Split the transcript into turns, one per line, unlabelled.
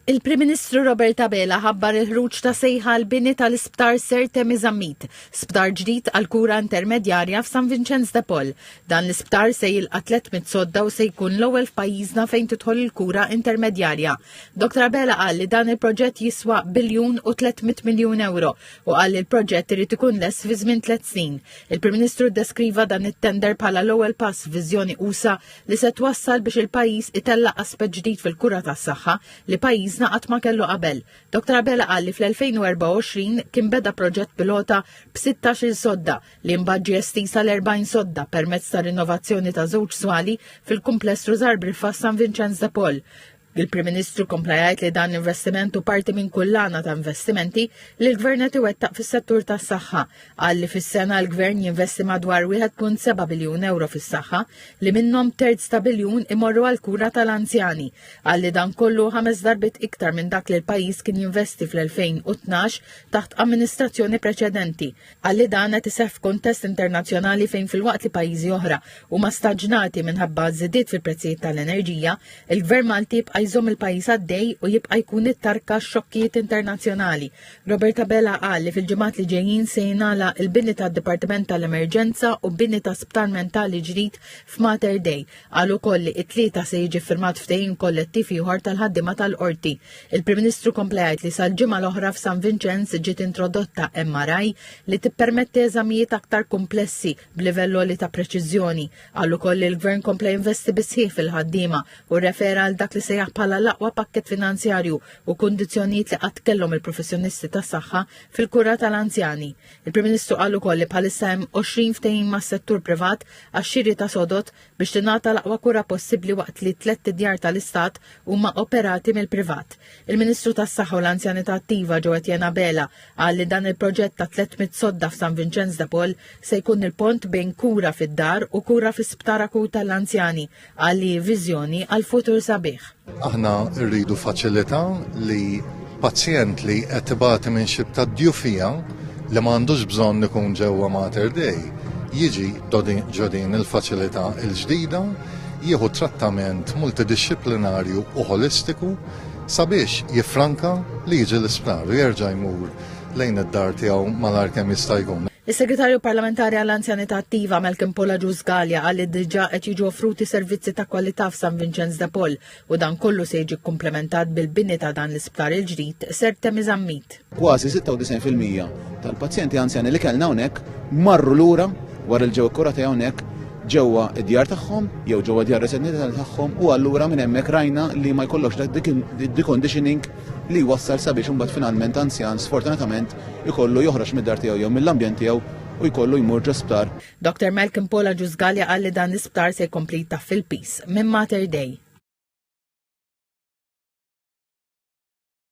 Il-Prim Ministru Robert Abela ħabbar il-ħruġ ta' sejħa għal bini tal-Isptar Sir Temi Zammit, sptar ġdid għal kura intermedjarja f'San Vinċenz de Paul. Dan l-isptar se jilqa' 300 sodda u se jkun l-ewwel f'pajjiżna fejn tidħol il-kura intermedjarja. Dr. Abela qal li dan il-proġett jiswa biljun u 300 miljun euro u qal li l-proġett irid ikun less fi żmien tliet snin. Il-Prim Ministru ddeskriva dan it-tender bħala l-ewwel pass viżjoni usa li se twassal biex il-pajjiż itellaq aspett ġdid fil-kura tas-saħħa li pajjiżna qatt ma kellu qabel. Dr Abela qal li fl-2024 kien beda proġett pilota b'16-il sodda li mbagħad ġie estiż għal 40 sodda permezz ta' rinnovazzjoni ta' żewġ swali fil-kumpless Rużar Briffa San Vinċenz de Paul. Il-Prim Ministru kompla jgħid li dan l-investiment u parti minn kullana ta' investimenti li l-Gvern qed iwettaq fis-settur tas-saħħa. Qal li fis-sena l-Gvern jinvesti madwar 1.7 biljun euro fis-saħħa li minnhom terz ta' biljun imorru għal kura tal-anzjani. Qal li dan kollu ħames darbit iktar minn dak li l-pajjiż kien jinvesti fl-2012 taħt amministrazzjoni preċedenti. Qal li dan qed iseħħ f'kuntest internazzjonali fejn filwaqt li pajjiżi oħra huma staġnati minħabba żidiet fil-prezzijiet tal-enerġija, il-Gvern Malti jibqa' jżomm il-pajjiż għaddej u jibqa' jkun it-tarka xokkijiet internazzjonali. Robert Abela qal li fil-ġimgħat li ġejjin se jingħalaq il-bini tad-Dipartiment tal-Emerġenza u bini ta' Sptar Mentali ġdid f'Mater Dei. Qal ukoll li t-Tlieta se jiġi ffirmat ftehim kollettiv ieħor tal-ħaddiema tal-Qorti. Il-Prim Ministru kompla jgħid li sal-ġimgħa l-oħra f'San Vinċenz ġiet introdotta MRI li tippermetti eżamijiet aktar kumplessi b'livell għoli ta' preċiżjoni. Qal ukoll li l-Gvern kompla jinvesti bis-sħiħ fil-ħaddiema u rrefera għal dak li sejjaħ bħala l-aqwa pakkett finanzjarju u kundizzjonijiet li qatt kellhom il-professjonisti tas-saħħa fil-kura tal-anzjani. Il-Prim Ministru qal ukoll li bħalissa hemm 20 ftehim mas-settur privat għax-xiri ta' sodod biex tingħata l-aqwa kura possibbli waqt li tlett djar tal-Istat huma operati mill-privat. Il-Ministru tas-Saħħa u l-Anzjanità Attiva Joe Etienne Abela qal li dan il-proġett ta' 300 sodda f'San Vinċenz de Paul se jkun il-pont bejn kura fid-dar u kura fi sptar akut għall-anzjani Qal li viżjoni għal futur sabiħ. Aħna
rridu faċilità li pazjent li qed ibati minn xi ta' djufija li ma għandux bżonn ikun ġewwa Mater Dei jiġi ġodin il-faċilità il-ġdida jieħu trattament multidixxiplinarju u holistiku sabiex jiffranka li jiġi l-isptar u jerġa' jmur lejn id-dar tiegħu malajr kemm jista' jkun. Is-Segretarju Parlamentari
għall-Anzjanità Attiva Malcolm Pola Ġużgalja qal li diġà qed jiġu offruti servizzi ta' kwalità f'San Vinċenz de Paul u dan kollu se jiġi kkumplementat bil-bini ta' dan l-isptar il-ġdid ser temi żammit. Kważi
96% tal-pazjenti anzjani li kellna hawnhekk marru lura wara l-ġew ikkurati hawnhekk ġewwa id-djar tagħhom jew ġewwa djar residenti tagħhom u allura minn hemmhekk rajna li ma jkollokx dik il-conditioning li jwassal sabiex imbagħad finalment anzjan sfortunatament ikollu joħroġ mid-dar tiegħu jew mill-ambjent tiegħu u jkollu jmur ġo sptar. Doctor
Malcolm Paul Agiusgallia qal li dan l-isptar se
jkompli
jtaffi l-piż minn Mater Dei.